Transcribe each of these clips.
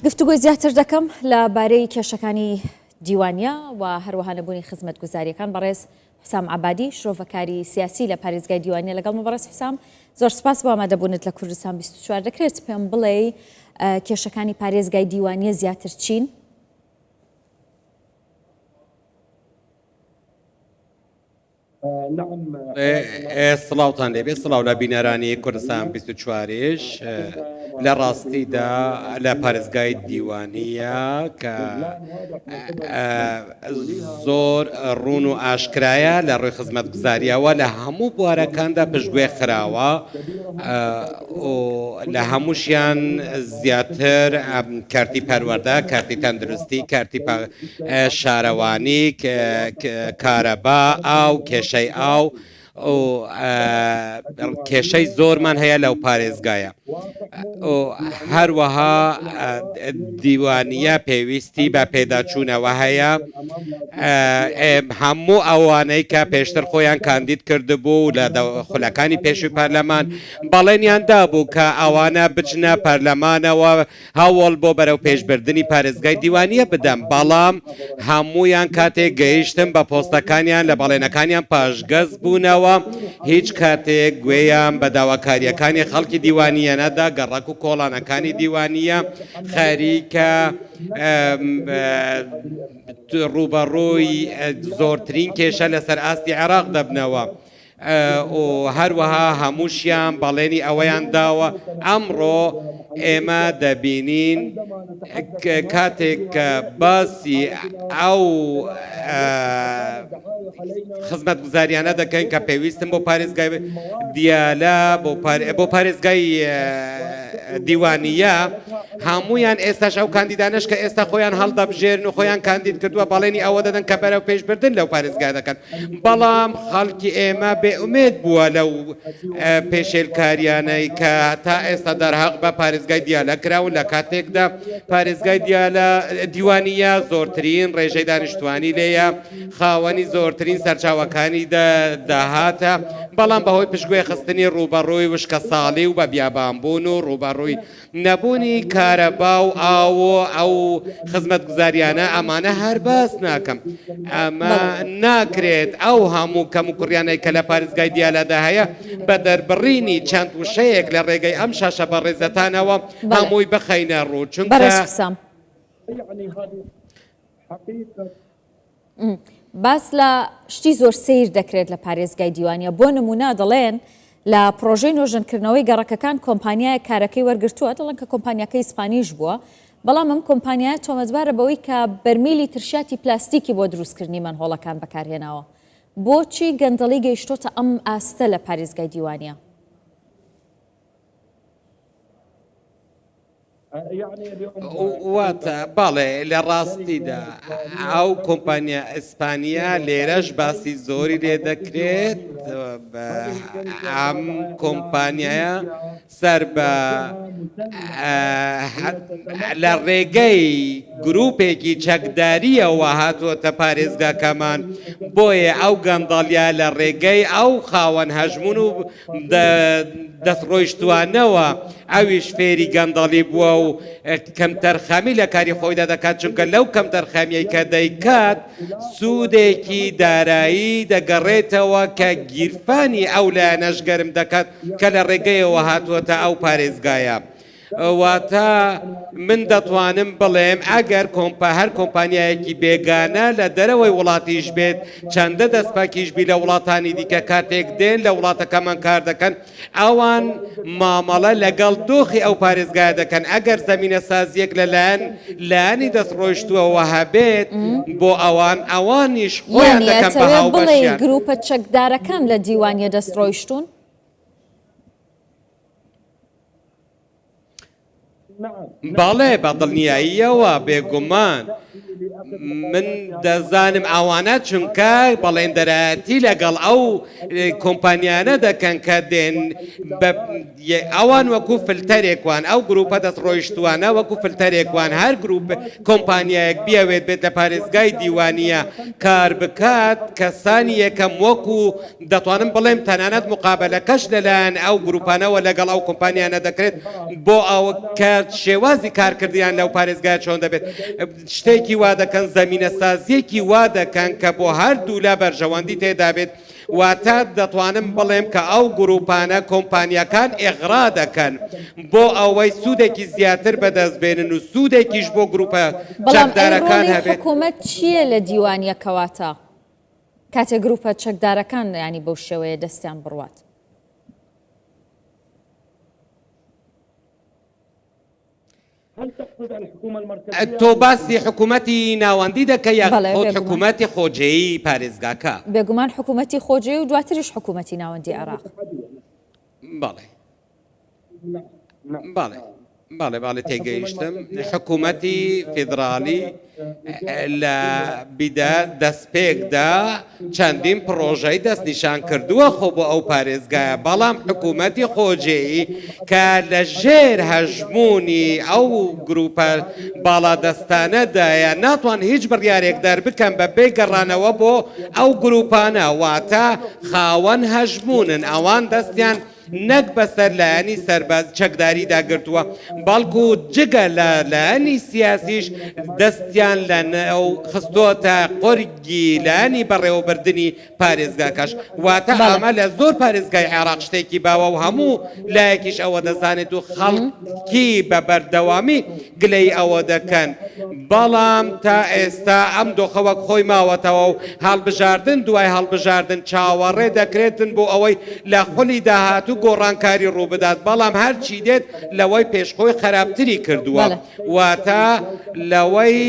گفتوگۆی زیاتر دەکەم لە بارەی کێشەکانی دیوانیە و هەروەها نەبوونی خزمەت گوزاریەکان بەڕێز حسام عبادی شرۆڤەکاری سیاسی لە پارێزگای دیوانیە لەگەڵ مەبڕێز حسام زۆر سپاس بۆ ئامادەبوونت لە کوردستان 24 دەکرێت پێم بڵێ کێشەکانی پارێزگای دیوانیە زیاتر چین سڵاوان لێبێ سڵاو لە بینەرانی کوردستان 24ش لە ڕاستیدا لە پارێزگای دیوانیە کە زۆر ڕون و ئاشکرایە لە ڕووی خزمەت گوزاریەوە لە هەموو بوارەکاندا پشتگوێ خراوە لە هەمووشیان زیاتر کارتی پەروەەردە کارتی تەندروستی کارتی شارەوانی، کارەبا، ئاو، کێشەی ئاو و کێشەی زۆرمان هەیە لەو پارێزگایە و هەروەها دیوانە پێویستی بە پێداچوونەوە هەیە هەموو ئەوانەی کە پێشتر خۆیان کاندید کردبوو لە خولەکانی پێشوی پەرلەمان بەڵێنیان دابوو کە ئەوانە بچنە پەرلەمانەوە هەوڵ بۆ بەرەوپێشبردنی پارێزگای دیوانیە بدەم، بەڵام هەموویان کاتێک گەیشتم بە پۆستەکانیان لە بەڵێنەکانیان پاشگەز بوونەوە، هیچ کاتێک گوێیان بە داواکاریەکانی خەڵکی دیوانیە نەدا، گەڕەک و کۆڵانەکانی دیوانیە خەریکە ڕووبەڕووی زۆرترین کێشە لەسەر ئاستی عێراق دەبنەوە. و هەروەها هەمووشیان بەڵێنی ئەوەیان داوە ئەمڕۆ ئێمە دەبینین کاتێک کە باسی ئەو خزمەتگوزاریانە دەکەین کە پێویستن بۆ پارێزگای دیالە بۆ پارێزگای دیوانیە هەمویان ئێستاش ئەو کاندیدانش کە ئێستا خۆیان هەڵدەبژێرن و خۆیان کاندید کردووە بەڵێنی ئەوە دەدەن کە بەرەو پێشبردن لەو پارێزگا دەکەن بەڵام خەڵکی ئێمە بێ ئومێد بووە لەو پێشێلکارییانەی کە تا ئێستا دەرهەق بە پارێزگای دیالە کراون لە کاتێکدا پارێزگای دیالە دیوانیە زۆرترین ڕێژەی دانیشتوانی لێیە خاوەنی زۆرترین سەرچاوەکانی داهاتە بەڵام بەهۆی پشتگوێ خستنی ڕووبەڕووی وشکە ساڵی و بە بیابانبوون و ڕووبەڕووی نەبوونی کارەبا و ئاو و ئەو خزمەتگوزاریانە ئەمانە هەر باس ناکەم ئەمە ناکرێت ئەو هەموو کەم و کوڕیانەی کە لە پارێزگای دیالادا هەیە بە دەربڕینی چەند وشەیەک لە ڕێگەی ئەم شاشە بە ڕێزەتانەوە هەمووی بخەینە ڕوو چونکە باس لە شتی زۆر سیر دەکرێت لە پارێزگای دیوانە بۆ نمونا دەڵێن لە پرۆژەی نۆژەنکردنەوەی گەڕەکەکان کۆمپانیایە کارەکەی وەرگتووە دەڵن کە کۆمپانیەکە ئیسپانیش بووە بەڵام ئەم کۆمپانیایە تۆمەتبارە بەوەی کە بەرمیلی ترشاتی پلاستیکی بۆ دروستکردنی مەنهۆڵەکان بەکارهێناوە بۆچی گەندەڵی گەیشتۆتە ئەم ئاستە لە پارێزگای دیوانە واتە بەڵێ لە ڕاستیدا ئەو کۆمپانیا ئیسپانیا لێرەش باسی زۆری لێ دەکرێت ئەم کۆمپانیایە سەر بە لە ڕێگەی گرروپێکی چەکداریەوە هاتووەتە پارێزگاکەمان بۆیە ئەو گەندەڵیا لە ڕێگەی ئەو خاوەن هەژمون و دەست ڕۆیشتوانەوە ئەویش فێری گەندەڵی بووە و کەمتەرخەمی لە کاری خۆیدا دەکات چونکە لەو کەمتەرخەمیەی کە دەیکات سوودێکی دارایی دەگەڕێتەوە کە گیرفانی ئەو لایەنەش گەرم دەکات کە لە ڕێگەیەوە هاتووەتە ئەو پارێزگایە. واتە من دەتوانم بڵێم ئەگەر کۆمپا هەر کۆمپانیایەکی بێگانە لە دەرەوەی وڵاتیش بێت چەندە دەستپاکیشبی لە وڵاتانی دیکە کاتێک دێن لە وڵاتەکەمان کار دەکەن ئەوان مامەڵە لەگەڵ دۆخی ئەو پارێزگای دەکەن ئەگەر زمینە سازیەک لەلایەن لانی دەست ڕۆیشتووەوە هەبێت بۆ ئەوان ئەوانیش خۆیان دەکەن بە هاوبەشیان گروپە چەکدارەکان لە دیوانیە دەست ڕۆیشتون بەڵێ بە دڵنیاییەوە بێگومان من دەزانم ئەوانە چونکە بەڵێندەرایەتی لەگەڵ ئەو کۆمپانیانە دەکەن کە دێن ئەوان وەکو فلتەرێکوان ئەو گروپە دەست ڕۆیشتوانە وەکو فلتەرێکوان هەر گروپ کۆمپانیایەک بیاوێت بێت لە پارێزگای دیوانە کار بکات کەسانی یەکەم وەکو دەتوانم بڵێم تەنانەت مقابەلەکەش لەلایەن ئەو گروپانەوە لەگەڵ ئەو کۆمپانیانە دەکرێت بۆ ئەوە کە شێوازی کارکردنیان لەو پارێزگایە چۆن دەبێت شتێکی وا دەکەن زەمینەسازیەکی وا دەکەن کە بۆ هەردوولا بەرژەوەندی تێدابێت واتە دەتوانم بڵێم کە ئەو گروپانە کۆمپانیەکان ئێغرا دەکەن بۆ ئەوەی سوودێکی زیاتر بەدەست بێنن و سوودێکیش بۆ گروپە چەکدارەکان هەبێت حکومەت چییە لە دیوانیەکەواتە؟ کاتێ گروپە چەکدارەکان یانی بەو شێوەیە دەستیان بڕوات. تۆ باسی حکوومەتی ناوەندی دەکە یا حکوومەتی خۆجێی پارێزگاکە بێگومان حکوومەتی خۆجێ و دواتریش حکوومەتی ناوەندی عێراق بەڵێ باڵێ باڵێ باڵێ تێگەیشتم حکوومەتی فیدراالی لە بیدا دەستپێکدا چەندین پرۆژەی دەست نیشان کردووە خۆ بۆ ئەو پارێزگایە بەڵام حکوومەتی خۆجێی کە لە ژێر هەژمونی ئەو گروپە باڵادەستانەدایە ناتوان هیچ بڕارێک دەربکەم بە بێ گەڕانەوە بۆ ئەو گروپانە واتە خاوەن هەژمونن ئەوان دەستیان نەک بەسەر لایەنی سەربازی چەکداریدا گرتووە، بەڵکو جگە لە لایەنی سیاسیش دەستیان لەنێو خستۆتە قۆرگی لایەنی بەڕێوەبردنی پارێزگاکەش، واتە ئەمە لە زۆر پارێزگای عێراق شتێکی باوە و هەموو لایەکیش ئەوە دەزانێت و خەڵکی بە بەردەوامی گلەیی ئەوە دەکەن، بەڵام تا ئێستا ئەم دۆخە وەک خۆی ماوەتەوە و هەڵبژاردن دوای هەڵبژاردن چاوەڕێ دەکرێتن بۆ ئەوەی لە خولی داهاتوو گۆڕانکاری ڕووبدات، بەڵام هەرچی دێت لەوەی پێش خۆی خەراپتری کردووە، واتە لەوەی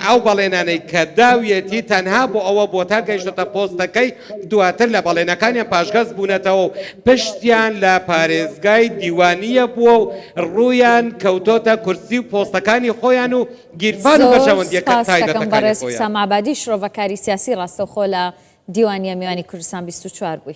ئەو بەڵێنانەی کە داویەتی تەنها بۆ ئەوە بووە تا گەیشتۆتە پۆستەکەی، دواتر لە بەڵێنەکانیان پاشگەز بوونەتەوە و پشتیان لە پارێزگای دیوانیە بووە و ڕوویان کەوتۆتە کورسی و پۆستەکانی خۆیان و گیرفان و بەرژەوەندیە تایبەتەکانی خۆیان. زۆر سپاستەکەم بەڕێز حسام عەبادی شرۆڤەکاری سیاسی ڕاستەوخۆ لە دیوانیە میوانی کوردستان بیست و چوار بووی.